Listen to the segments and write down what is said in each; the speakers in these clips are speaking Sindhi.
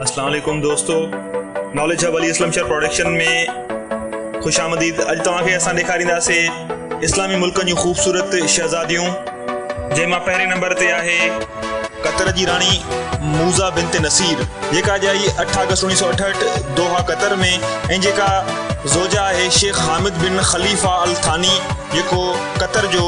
اسلام عليڪم دوستو ناليج هب علي اسلم شهر پروڊڪشن ۾ خوش آمديد اڄ توهان کي اسان ڏيکارينداسين اسلامي ملڪن جون خوبصورت شهزاديون جنهن مان پهرين نمبر تي آهي قطر جي راڻي موزا بنت نصير جيڪا ڄائي اٺ آگسٽ اڻيهه سو اٺهٺ دوها قطر ۾ ۽ جيڪا زوجا آهي شيخ حامد بن خليفا الثاني جيڪو قطر جو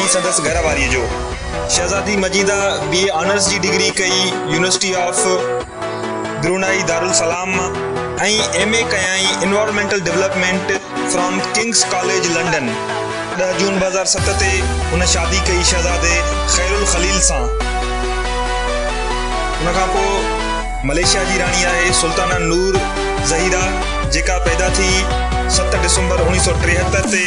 ۽ سندس گهر واريء جو. شهزادي مجيده بي اي آنرس جي ڊگري ڪئي يونيورسٽي آف برونائي دارالسلام مان ۽ ايم اي ڪيائين environmental development from King's college London. ڏهه جون ٻه هزار ست تي هن شادي ڪئي شهزادي خيرالخليل سان. ان کان پوء ملائيشيا جي راڻي آهي سلطانه نور زهيره جيڪا پيدا ٿي ست ڊسمبر اوڻيهه سؤ ٽيهتر تي.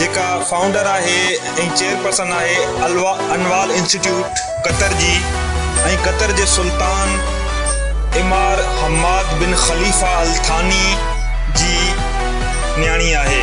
جيڪا فائونڊر آهي ۽ چيئرپرسن آهي الوا انوال انسٽيٽيوٽ قطر جي ۽ قطر جي سلطان امار حماد بن خليفه الثاني جي نياڻي آهي.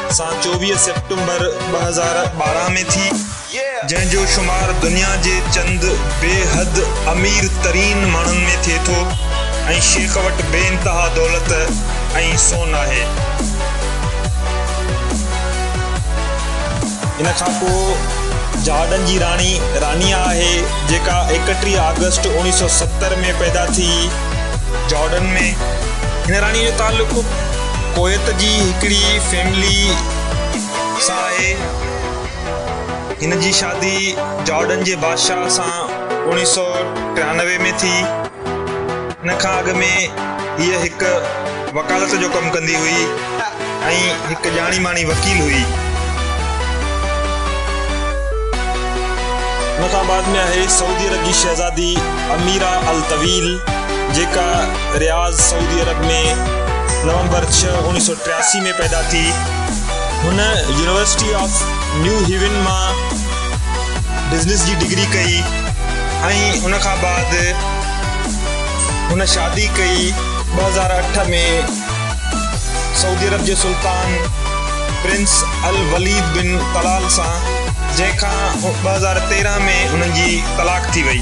سان چوويهه سيپٽمبر ٻه هزار ٻارهن ۾ ٿي، جنهن جو شمار دنيا جي چند بي حد امير ترين ماڻهن ۾ ٿئي ٿو ۽ شيخ وٽ بي انتها دولت ۽ سون آهي. ان کان پوء جهاڏن جي راڻي رانيا آهي، جيڪا ايڪٽيهه آگسٽ اوڻيهه سؤ ستر ۾ پيدا ٿي جارڊن ۾. هن راڻي جو تعلق. ڪويت جي هڪڙي فيملي سان آهي. هن جي شادي جارڊن جي بادشاهه سان اوڻيهه سؤ ٽيانوي ۾ ٿي. ان کان اڳ ۾ هيء هڪ وڪالت جو ڪم ڪندي هئي ۽ هڪ ڄاڻي ماڻي وڪيل هئي. ان کان بعد ۾ آهي سعودي عرب جي شهزادي اميرا الطويل جيڪا. رياض، سعودي عرب ۾ نومبر ڇهه، اوڻيهه سؤ ٽياسي ۾ پيدا ٿي. هن يونيورسٽي آف نيو هيون مان بزنس جي ڊگري ڪئي ۽ ان کان بعد هن شادي ڪئي. ٻه هزار اٺ ۾ سعودي عرب جي سلطان پرنس الوليد بن طلال سان جنهن کان ٻه هزار تيرهن ۾ هنن جي طلاق ٿي وئي.